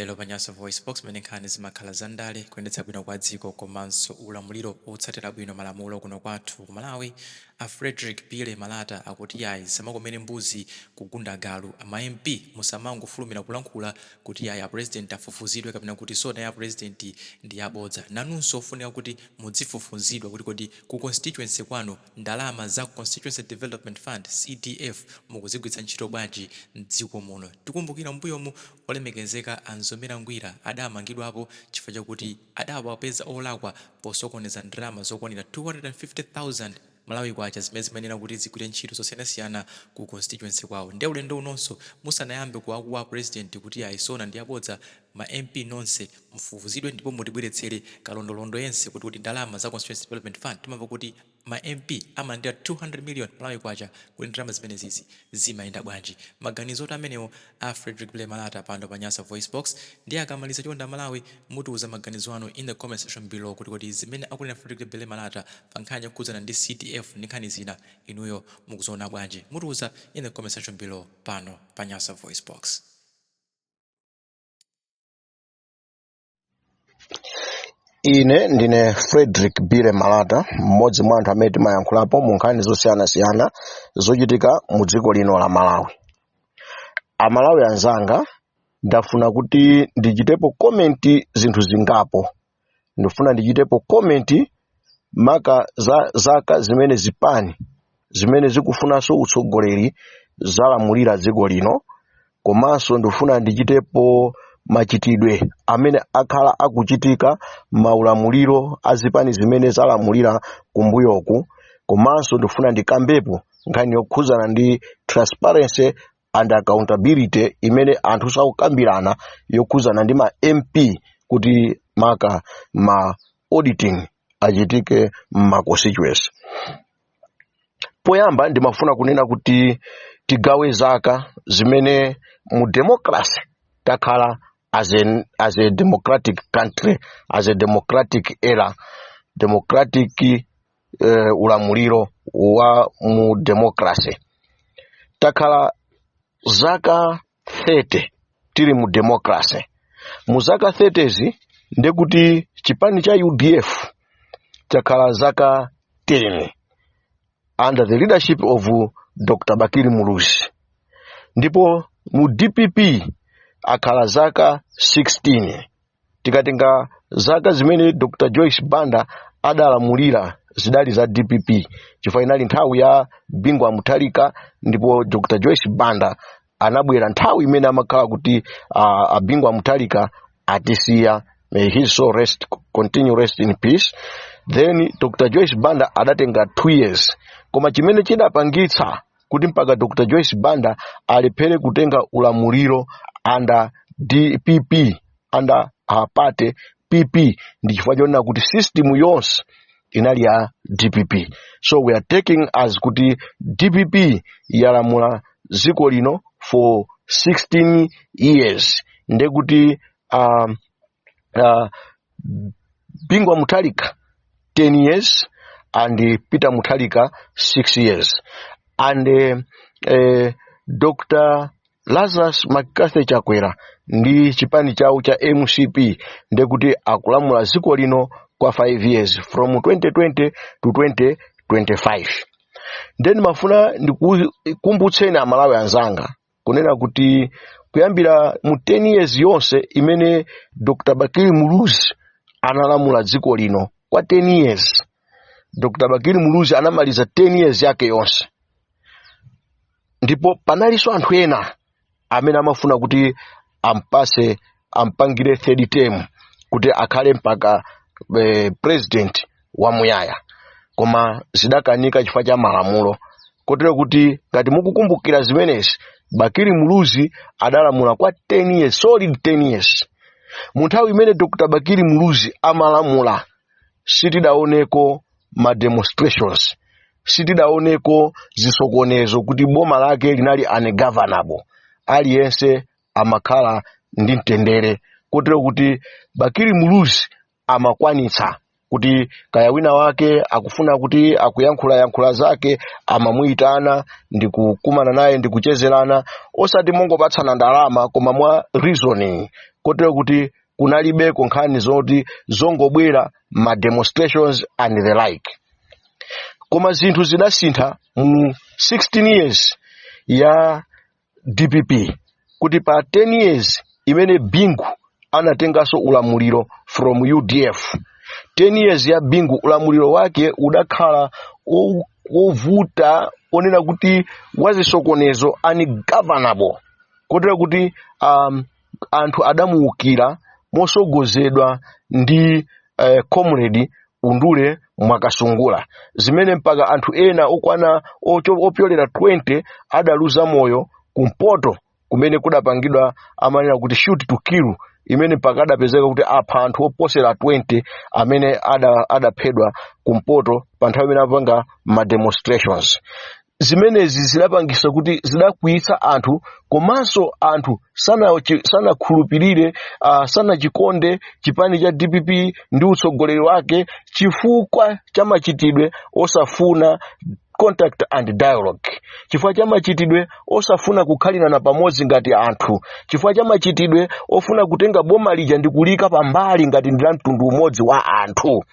Lero pa Nyasa VoiceBox, mmene nkhani zimakhala za ndale, kuyendetsa bwino kwa dziko komanso ulamuliro otsatira bwino malamulo kuno kwathu ku Malawi, a Fredrick Bile Malata akuti yayi zisamakomere mbuzi kugunda galu, a ma MP musamangofulumira kulankhula kuti yayi a President afufuzidwe kapena kuti SONA ya President ndi yabodza. Nanunso ofunika kuti mudzifufuzidwa kuti kodi ku constituency kwanu ndalama za Constituency Development Fund, CDF, mukuzigwiritsa ntchito bwanji m'dziko muno? Tikumbukira m'mbuyomu olemekezeka a Mzomera Ngwira adamangidwapo chifukwa chakuti adawapeza olakwa posokoneza ndalama zokwanira 250,000 Malawi Kwacha zimene zimayenera kuti zigwire ntchito zosiyanasiyana ku constituency kwawo. Nde ulendo unonso musanayambe kuwakuwa a President kuti ayi SONA ndi yabodza, Ma MP nonse mufufuzidwe ndipo mutibweretsere kalondolondo yense kuti ndalama za Constituency Development Fund timamva kuti ma MP amalandira 200 million Malawi Kwacha kodi ndalama zimenezizi zimayenda bwanji? Maganizotu amenewo a Fredrick Bile Malata pano pa Nyasa VoiceBox ndiye akamaliza chonde amalawi mutiuza maganizo anu in the comment section below kuti zimene akunena Fredrick Bile Malata pa nkhani yokhudzana ndi CDF ndi nkhani zina inuyo mukuziona bwanji? Mutiuza in the comment section below pano pa Nyasa VoiceBox. ine ndine frederick bile malata mmodzi mwa anthu amene timayankhulapo mu nkhani zosiyanasiyana zochitika mu dziko lino la malawi amalawi anzanga ndafuna kuti ndichitepo komenti zinthu zingapo ndikufuna ndichitepo komenti maka za zaka zimene zipani zimene zikufunanso utsogoleri zalamulira dziko lino komanso ndikufuna ndichitepo machitidwe amene akhala akuchitika maulamuliro a zipani zimene zalamulira kumbuyoku komanso ndikufuna ndikambepo nkhani yokhudzana ndi transparency and accountability imene anthu sakukambirana yokhuzana ndi ma mp kuti maka ma auditing achitike mma constituency poyamba ndimafuna kunena kuti tigawe zaka zimene mu democracy takhala as a democratic country as a democratic era democratic ulamuliro wa mu democracy takhala zaka 30 tili mu democracy mu zaka 30 zi ndekuti chipani cha udf chakhala zaka 10 under the leadership of dr bakili muluzi ndipo mu dpp akhala zaka 16 tikatenga zaka zimene dr joyce banda adalamulira zidali za dpp chifukwa inali nthawi ya bingu wa mutharika ndipo dr joyce banda anabwera nthawi imene amakhala kuti uh, a bingu wa mutharika atisiya may his soul rest continue rest in peace then dr joyce banda adatenga two years koma chimene chidapangitsa kuti mpaka dr joyce banda alephere kutenga ulamuliro under dpp under her party pp ndi chifukwa chonena kuti system yonse inali ya dpp so we are taking as kuti dpp yalamula dziko lino for 16 years ndekuti um, uh, bingu wa mutharika 10 years and eh, peter mutharika 6 years and eh, eh, dr lazarus mccarthy chakwera ndi chipani chawo cha mcp ndekuti akulamula dziko lino kwa 5 years from 2020 to 2025 nde ndimafuna ndikumbutseni amalawi anzanga kunena kuti kuyambira mu 10 years yonse imene dr bakili muluzi analamula dziko lino kwa 10 years dr bakili muluzi anamaliza 10 years yake yonse ndipo panalinso anthu ena amene amafuna kuti ampatse ampangire third term kuti akhale mpaka eh, president wamuyaya koma zidakanika chifukwa cha malamulo kotero kuti ngati mukukumbukira zimenezi bakili muluzi adalamula kwa 10 years solid 10 years mu nthawi imene dr bakili muluzi amalamula sitidaoneko ma demonstrations sitidaoneko zisokonezo kuti boma lake linali ungovernable aliyense amakhala ndi mtendere kotero kuti bakili muluzi amakwanitsa kuti kaya wina wake akufuna kuti akuyankhulayankhula zake amamuyitana ndi kukumana naye ndi kuchezerana osati mongopatsana ndalama koma mwa reasoning kotero kuti kunalibeko nkhani zoti zongobwera ma demonstrations and the like koma zinthu zidasintha mu 16 years ya dpp kuti pa 10 years imene bingu anatenganso ulamuliro from udf 10 years ya bingu ulamuliro wake udakhala wo- wovuta wonena kuti wazisokonezo ungovernable kotero kuti um, anthu adamuukira motsogozedwa ndi eh, comrade undule mwakasungula zimene mpaka anthu ena okwana ocho- opyolera 20 adaluza moyo kumpoto kumene kudapangidwa amanena kuti shoot to kill imene mpaka adapezeka kuti apha anthu oposera 20 amene ada- adaphedwa kumpoto pa nthawi imene apanga ma demonstrations zimenezi zidapangisa kuti zidakwiyitsa anthu komanso anthu sanachi- sanakhulupirire uh, sanachikonde chipani cha dpp ndi utsogoleri wake chifukwa cha machitidwe osafuna contact and dialogue chifukwa cha machitidwe osafuna kukhalirana pamodzi ngati anthu chifukwa cha machitidwe ofuna kutenga boma lija ndi kuliika pambali ngati ndi la mtundu umodzi wa anthu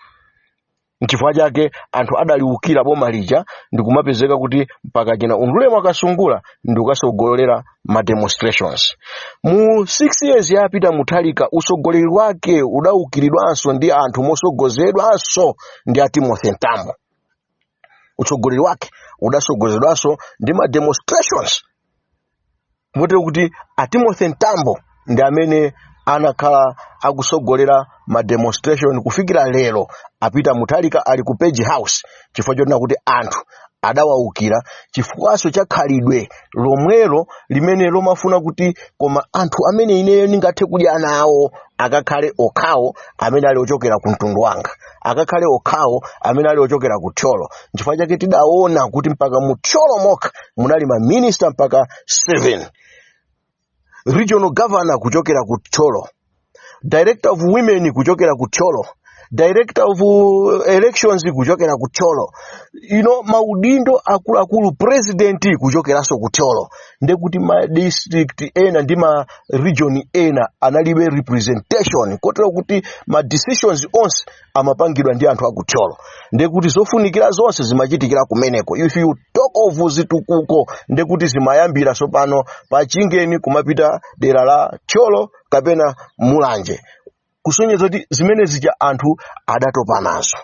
nchifukwa chake anthu adaliukira boma lija ndikumapezeka kuti mpaka china undule mwakasungula ndikukatsogolera ma demonstrations mu 6 years yapita mutharika utsogoleri wake udaukiridwanso ndi anthu motsogozedwanso ndi a timothy mtambo utsogoleri wake udatsogozedwanso ndi ma demonstrations motero kuti a timothy mtambo ndi amene anakhala akutsogolera ma demonstration kufikira lero a peter mutharika ali ku page house chifukwa chonena kuti anthu adawaukira chifukwanso cha khalidwe lomwelo limene lomafuna kuti koma anthu amene ineyo ndingathe kudya nawo akakhale okhawo amene ali ochokera ku mtundu wanga akakhale okhawo amene ali ochokera ku thyolo nchifukwa chake tidaona kuti mpaka mu thyolo mokha munali maminista mpaka 7 regional governor kuchokera ku thyolo director of women kuchokera ku thyolo director of uh, elections kuchokera ku thyolo you know maudindo akuluakulu president kuchokeranso ku thyolo ndekuti ma district ena ndi ma region ena analibe representation kotero kuti ma decisions onse amapangidwa ndi anthu akuthyolo ndekuti zofunikira zonse zimachitikira kumeneko if you talk of zitukuko ndekuti zimayambira tsopano pa chingeni kumapita dera la thyolo kapena mulanje kusonyeza kuti zimene zija anthu adatopa nazo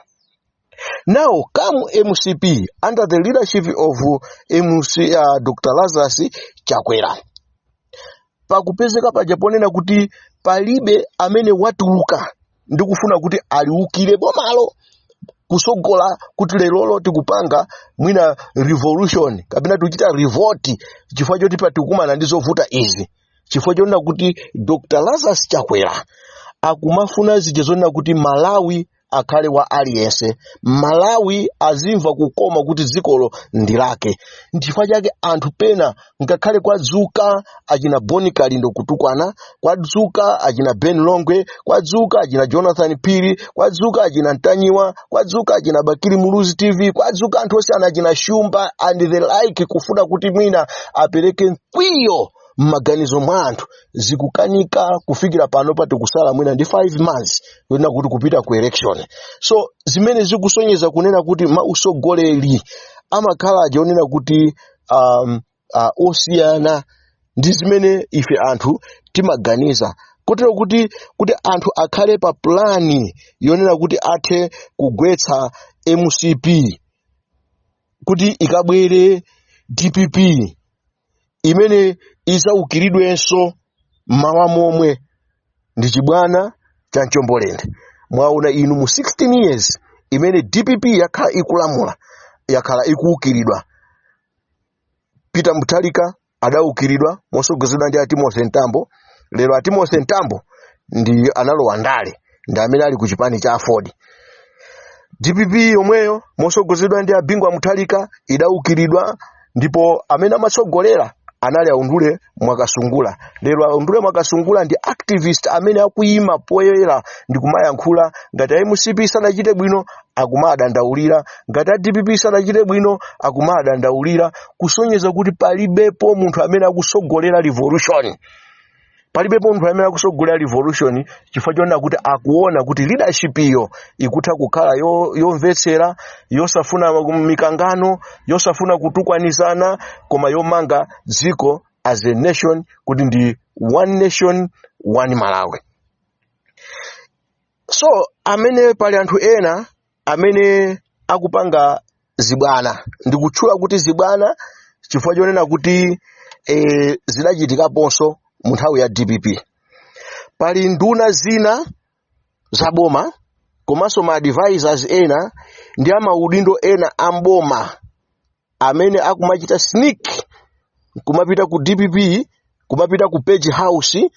Now come MCP under the leadership of MC, uh, Dr. Lazarus Chakwera. Pakupezeka paja ponena kuti palibe amene watuluka ndi kufuna kuti aliukire bomalo kutsogola kuti lerolo tikupanga mwina revolution kapena tikuchita revolt chifukwa choti tikukumana ndi zovuta izi chifukwa chonena kuti Dr. Lazarus Chakwera akumafuna zija zonena kuti Malawi akhale wa aliyense malawi azimva kukoma kuti dzikolo ndi lake nchifukwa chake anthu pena ngakhale kwadzuka achina bon kalindo kutukwana kwadzuka achina ben longwe kwadzuka achina jonathan phiri kwadzuka achina ntanyiwa kwadzuka achina bakili muluzi tv kwadzuka anthu onse achina shumba and the like kufuna kuti mwina apereke mkwiyo m'maganizo mwa anthu zikukanika kufikira pano pati kusala mwina ndi 5 months yonena kuti kupita ku election so zimene zikusonyeza kunena kuti mausogoleri amakhala ajeonena kuti um, uh, osiyana ndi zimene ife anthu timaganiza kotero kuti kuti anthu akhale pa pulani yonena kuti athe kugwetsa mcp kuti ikabwere dpp imene izaukiridwenso mmawa lomwe ndi chibwana cha mchombolende mwaona inu mu 16 years imene dpp yakhala ikulamula yakhala ikuukiridwa peter mutharika adaukiridwa mosogozedwa ndi atimothy mtambo lero atimothy mtambo ndi analowa ndale ndi amene ali ku chipani cha aford dpp yomweyo mosogozedwa ndi abingu wa mutharika idaukiridwa ndipo amene amasogolera anali aundule mwakasungula lero aundule mwakasungula ndi activist amene akuyima poyera ndi kumayankhula ngati a mcp sanachite bwino akumadandaulira ngati a dpp sanachite bwino akumadandaulira kusonyeza kuti palibepo munthu amene akusogolera revolution palibepo munthu amene akusogolera revolution chifukwa chonena kuti akuona kuti leadership iyo ikutha kukhala yomvetsera yosafuna mikangano yosafuna kutukwanizana koma yomanga dziko as a nation kuti ndi one nation one malawi so amene pali anthu ena amene akupanga zibwana ndikutchula kuti zibwana chifukwa chonena kuti e, zidachitikaponso mu nthawi ya dpp pali nduna zina za boma komanso ma advisors ena ndi amaudindo ena a mboma amene akumachita sneak kumapita ku dpp kumapita ku page house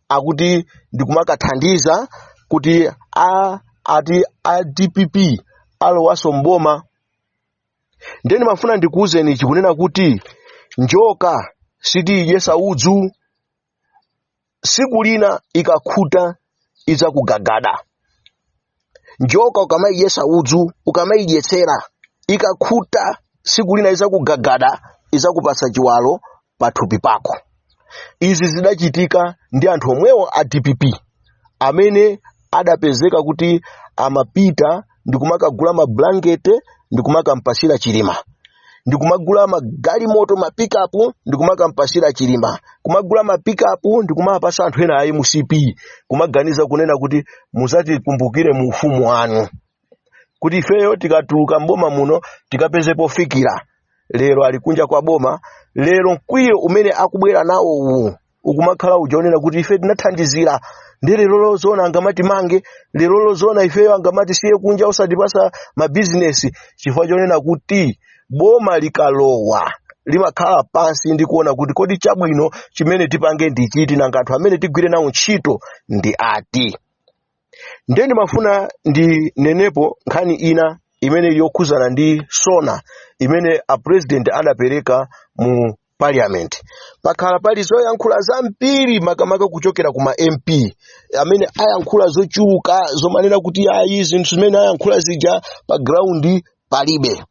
akuti ndikumakathandiza kuti a ati a dpp alowaso mboma ndiye ndimafuna ndikuwuzeni chi kunena kuti njoka sitiidyesa udzu siku lina ikakhuta idzakugagada njoka ukamaidyetsa udzu ukamaidyetsera ikakhuta siku lina idzakugagada idzakupatsa chiwalo pathupi pako izi zidachitika ndi anthu omwewo a dpp amene adapezeka kuti amapita ndikumakagula mablankete ndikumakampasira chilima ndikumagula magalimoto mapikapu ndikumakampasira chilima kumagula mapikapu ndikumapasa anthu ena a mcp kumaganiza kunena kuti muzatikumbukire mu ufumu wanu kuti ifeyo tikatuluka mboma muno tikapeze pofikira lero ali kunja kwa boma lero mkwiyo umene akubwera nawo uwu ukumakhala uja onena kuti ife tinathandizira nde lero zoona angamatimange lero zoona ifeyo angamatisiye kunja osatipasa mabizinesi chifukwa chonena kuti boma likalowa limakhala pansi ndi kuona kuti kodi chabwino chimene tipange ndi chiti nanga anthu amene tigwire nawo ntchito ndi ati ndiye ndimafuna ndinenepo nkhani ina imene ili yokhuzana ndi sona imene a president adapereka mu parliament pakhala pali zoyankhula zambiri makamaka kuchokera kuma mp amene ayankhula zochuluka zomanena kuti ayi zinthu zimene ayankhula zija pa ground palibe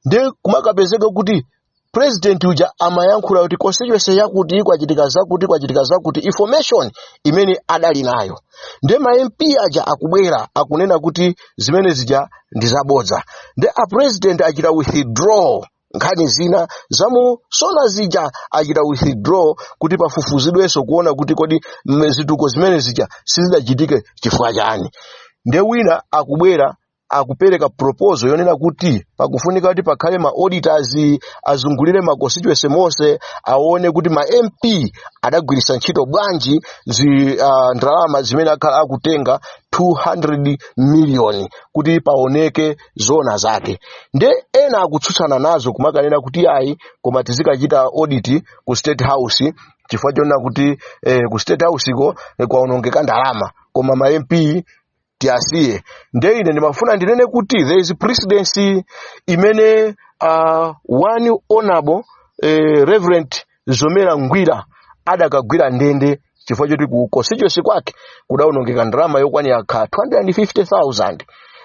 ndiye kumakapezeka kuti president uja amayankhula kuti constituency yakuti kwachitika zakuti kwachitika zakuti information imene adali nayo nde ma mp aja akubwera akunena kuti zimene zija ndi zabodza nde a president achita withdraw nkhani zina zamu sona zija achita withdraw kuti pafufuzidwenso kuona kuti kodi mm, zituko zimene zija sizidachitike chifukwa chani nde wina akubwera akupereka proposal yonena kuti pakufunika kuti pakhale ma auditors azungulire ma constituency monse aone kuti ma mp adagwiritsa ntchito bwanji zi, uh, ndalama zimene akhala akutenga 200 million kuti paoneke zona zake nde ena akutsutsana nazo kumakanena kuti ayi koma tizikachita audit ku state house chifukwa chonena kuti eh, ku state house ko eh, kwaonongeka ndalama koma ma mp tiasiye nde ine ndimafuna ndinene kuti there is precedence imene uh, one honorable eh, reverend mzomera ngwira adakagwira ndende chifukwa choti ku constituency kwake kudaonongeka ndalama yokwanira ka 250000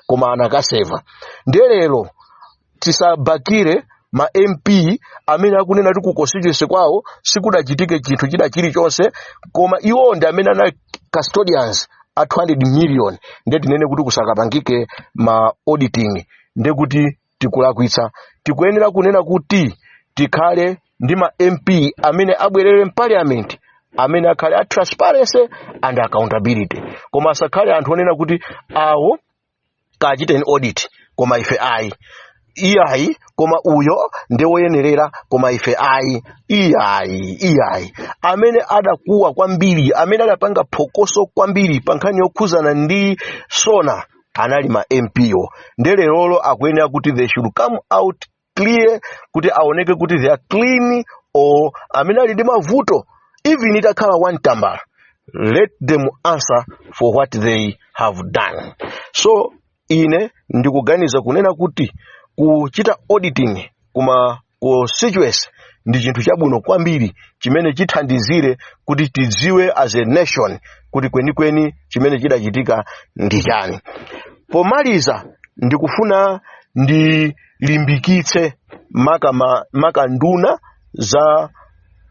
koma anakaseva nde lero tisabakire ma mp amene akunena kuti ku constituency kwawo sikudachitike chinthu china chilichonse koma iwo ndi amene anali custodians a 200 million nde tinene kuti kusakapangike ma auditing nde kuti tikulakwitsa tikuyenera kunena kuti tikhale ndi ma mp amene abwerere mpaliamenti amene akhale a transparency and accountability koma asakhale anthu onena kuti awo kachiteni audit koma ife ayi iyayi koma uyo ndi woyenerera koma ife ayi iyayi iyayi amene adakuwa kwambiri amene adapanga phokoso kwambiri pa nkhani yokhuzana ndi sona anali ma mpo nde lerolo akuyenera kuti they should come out clear kuti aoneke kuti they are clean or amene ali ndi mavuto even itakhala one tambala let them answer for what they have done so ine ndikuganiza kunena kuti kuchita auditing kuma constituency ndi chinthu chabwino kwambiri chimene chithandizire kuti tidziwe as a nation kuti kwenikweni chimene chidachitika ndi chani pomaliza ndikufuna ndi limbikitse maka, ma, maka nduna za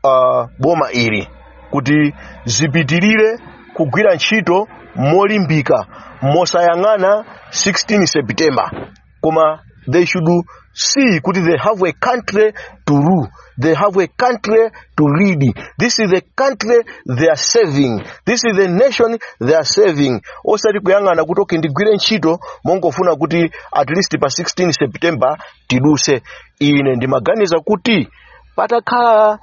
uh, boma ili kuti zipitirire kugwira ntchito molimbika mosayang'ana 16 september koma they should see kuti they have a country to rule They have a country to lead. This is the country they are serving. This is the nation they are serving. Osati kuyang'ana kuti okay ndigwire ntchito mongofuna kuti at least pa 16 September tiduse. Ine ndimaganiza kuti patakhala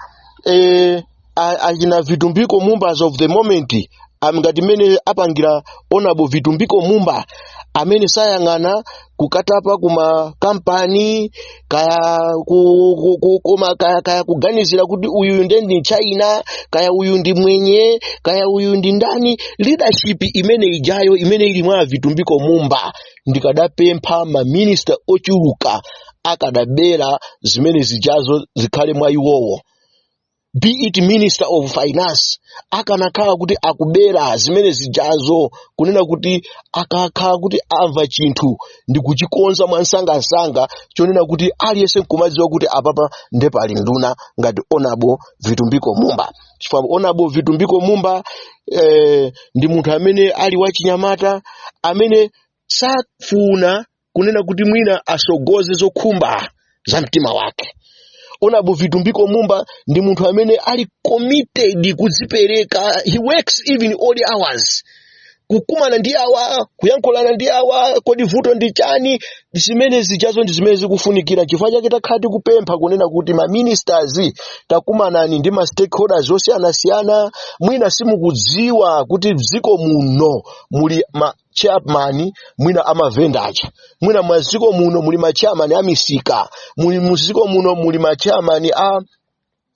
eh, a- achina vitumbiko mumba as of the moment am- ngati mmene apangira honourable vitumbiko mumba amene sayang'ana kukatapa kuma kampani kaya ku, ku, ku, kuma, kaya, kaya kuganizira kuti uyu nde ndi mchina kaya uyu ndi mwenye kaya uyu ndi ndani leadership imene ijayo imene ili mwa vitumbiko mumba ndikadapempha maminista ochuluka akadabera zimene zijazo zikhale mwa iwowo be it minister of finance akanakhala kuti akubera zimene zijazo kunena kuti akakhala kuti amva chinthu ndi kuchikonza mwansangansanga chonena kuti aliyense nkumadziwa kuti apapa nde pali nduna ngati honourable vitumbiko mumba chifukwa honourable vitumbiko mumba eh, ndi munthu amene ali wachinyamata amene safuna kunena kuti mwina asogoze zokhumba za mtima wake honourable vitumbiko mumba ndi munthu amene ali committed kudzipereka he works even odd hours kukumana ndi awa kuyankhulana ndi awa kodi vuto ndi chani zimene zijazo ndi zimene zikufunikira chifukwa chake takhala tikupempha kunena kuti ma ministers takumanani ndi ma stakeholders osiyanasiyana mwina simukudziwa kuti dziko muno muli ma chairman mwina amavenda aja mwina mwaziko muno muli ma chairman a misika muli muziko muno muli ma chairman a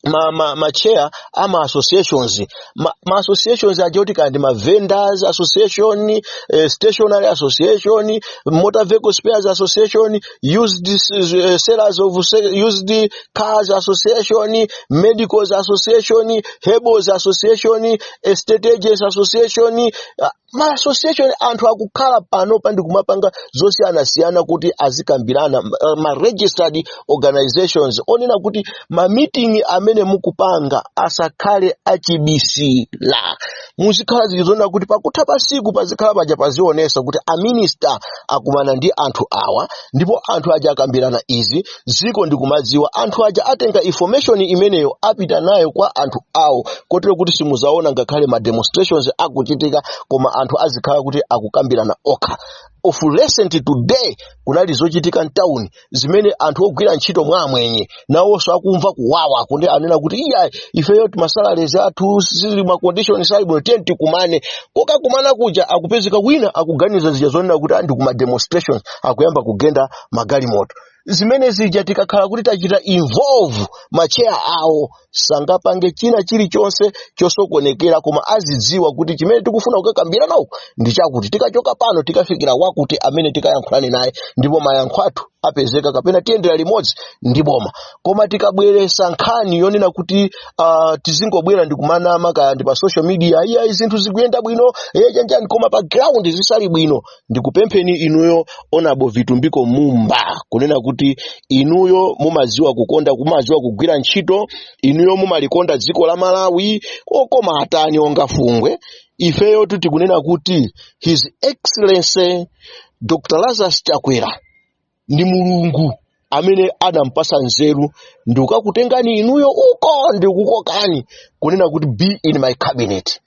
ma, ma, ma chair a ma associations ma, ma associations aja kuti kandi ma vendors association eh, stationary association motor vehicle spares association used eh, sellers of se- used cars association medicals association herbals association estate agents association ah, ma association anthu akukhala panopa ndikumapanga zosiyanasiyana kuti azikambirana uh, ma registered organizations onena kuti ma meeting amene mukupanga asakhale achibisira muzikhala zija zonena kuti pakutha pa siku pazikhala paja pazionesa kuti a minister akumana ndi anthu awa ndipo anthu aja akambirana izi dziko ndikumadziwa anthu aja atenga information imeneyo apita nayo kwa anthu awo kotero kuti simuzaona ngakhale ma demonstrations akuchitika koma anthu azikhala kuti akukambirana okha of recent today kunali zochitika mtawuni zimene anthu ogwira ntchito mwa amwenye nawonso akumva kuwawa kundi anena kuti iyayi ifeyo masalalezi athu ma condition sali bwino tiyeni tikumane kokakumana kuja akupezeka wina akuganiza zija zonena kuti ndi kuma demonstrations akuyamba kugenda magalimoto zimene zija tikakhala kuti tachita involve macheya awo sangapange china chilichonse chosokonekera koma azidziwa kuti chimene tikufuna kukakambirana uku ndi chakuti tikachoka pano tikafikira wakuti amene tikayankhulane naye ndipo mayankho athu apezeka kapena tiyendera limodzi ndi boma koma tikabweresa nkhani yonena kuti uh, tizingobwera ndi kumanama kaya ndi pa social media iyayi zinthu zikuyenda bwino iye chanjani koma pa ground zisali bwino ndikupempheni inuyo honourable vitumbiko mumba kunena kuti inuyo mumaziwa kukonda kumaziwa kugwira ntchito inuyo mumalikonda dziko la malawi okoma akani onga fungwe ifeyotu tikunena kuti his excellency dr lazarus chakwera ndi mulungu amene adampasa nzeru ndi kukakutengani inuyo uko ndi kukokani kunena kuti be in my cabinet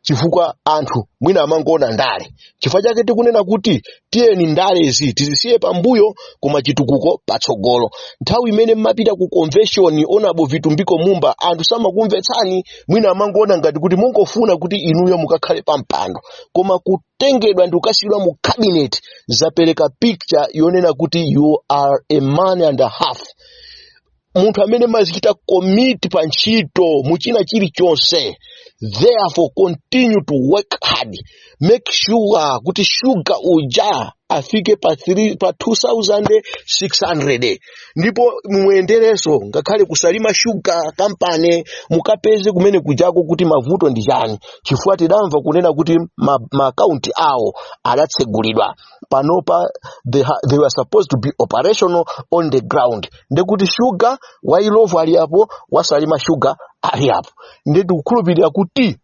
chifukwa anthu mwina amangoona ndale chifukwa chake tikunena kuti tiyeni ndalezi tizisiye pambuyo koma chitukuko patsogolo nthawi imene mmapita ku convention honourable vitumbiko mumba anthu samakumvetsani mwina amangoona ngati kuti mungofuna kuti inuyo mukakhale pampando koma ku kutengedwa ndi kukasiyidwa mu cabinet zapereka picture yonena kuti you are a man and a half munthu amene mumazichita commit pa ntchito muchina chilichonse therefore continue to work hard make sure kuti shuga uja afike pa 2600 ndipo muyenderenso ngakhale kusalima sugar company mukapeze kumene kujako kuti mavuto ndi chani chifukwa tidamva kunena kuti ma- maakaunti awo adatsegulidwa panopa they were supposed to be operational on the ground ndekuti shuga wa illovo ali apo wa salima shuga ali apo nde tikukhulupirira kuti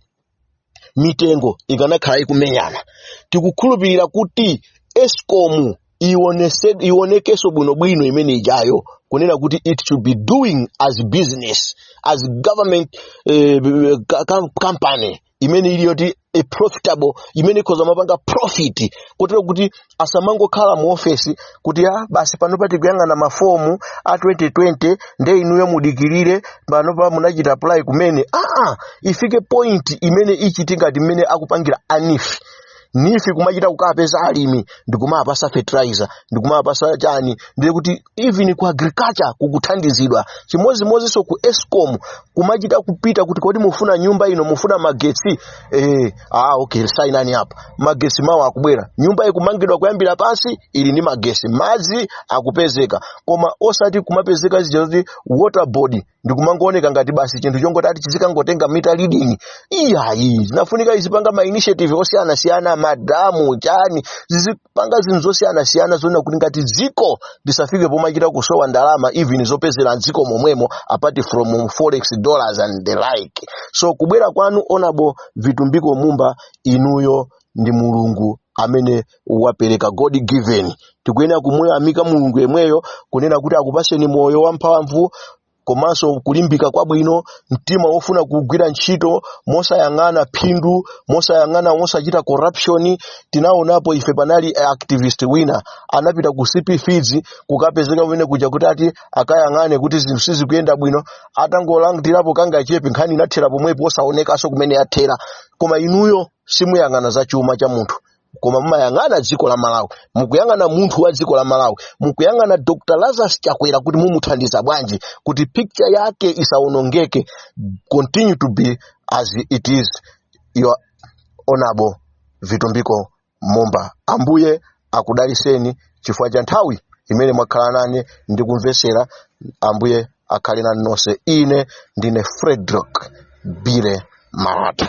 mitengo ikanakhala ikumenyana tikukhulupirira kuti escom ionese- ionekenso bwinobwino imene ijayo kunena kuti it should be doing as business as government eh, ka- ka- company imene ili yoti a profitable imene ikhoza kumapanga profit kotero kuti asamangokhala mu ofesi kuti a basi panopa tikuyang'ana mafomu a 2020 nde inuyo mudikirire panopa munachita apply kumene aa ifike point imene ichite ngati mmene akupangira a neef neef kumachita kukapeza alimi ndikumawapatsa fertilizer ndikumawapatsa chani ndiye kuti even ku agriculture kukuthandizidwa chimodzimodzinso ku escom kumachita kupita kuti kodi mufuna nyumba ino mufuna magetsi eh, ah okay sainani apa magesi mawa akubwera nyumba ikumangidwa kuyambira pansi ili ndi magesi madzi akupezeka koma osati kumapezeka zija zoti water board ndikumangooneka ngati basi chinthu chongoti ati chizikangotenga meter reading iyayi zinafunika izipanga ma initiative osiyanasiyana madamu chani zizi panga zinthu zosiyanasiyana zoona kuti ngati dziko lisafike pomachita kusowa ndalama even zopezera dziko momwemo apart from forex dollars and the like so kubwera kwanu honorable vitumbiko mumba inuyo ndi mulungu amene wapereka god given tikuyenera kumuyamika mulungu yemweyo kunena kuti akupaseni moyo wamphamvu komanso kulimbika kwabwino mtima wofuna kugwira ntchito mosayang'ana phindu mosayang'ana mosachita corruption tinaonapo ife panali activist wina anapita ku cp feeds kukapezeka kumene kuja kuti ati akayang'ane kuti zinthu sizikuyenda bwino atangolandirapo kangachepe nkhani inathera pomwepo osaonekanso kumene yathera koma inuyo simuyang'ana za chuma cha munthu koma mumayang'ana dziko la malawi mukuyang'ana munthu wa dziko la malawi mukuyang'ana dr lazarus chakwera kuti mumuthandiza bwanji kuti picture yake isaonongeke continue to be as it is your honorable vitumbiko mumba ambuye akudaliseni chifukwa cha nthawi imene mwakhala nane ndikumvetsera ambuye akhale nanu nonse ine ndine frederick billy malata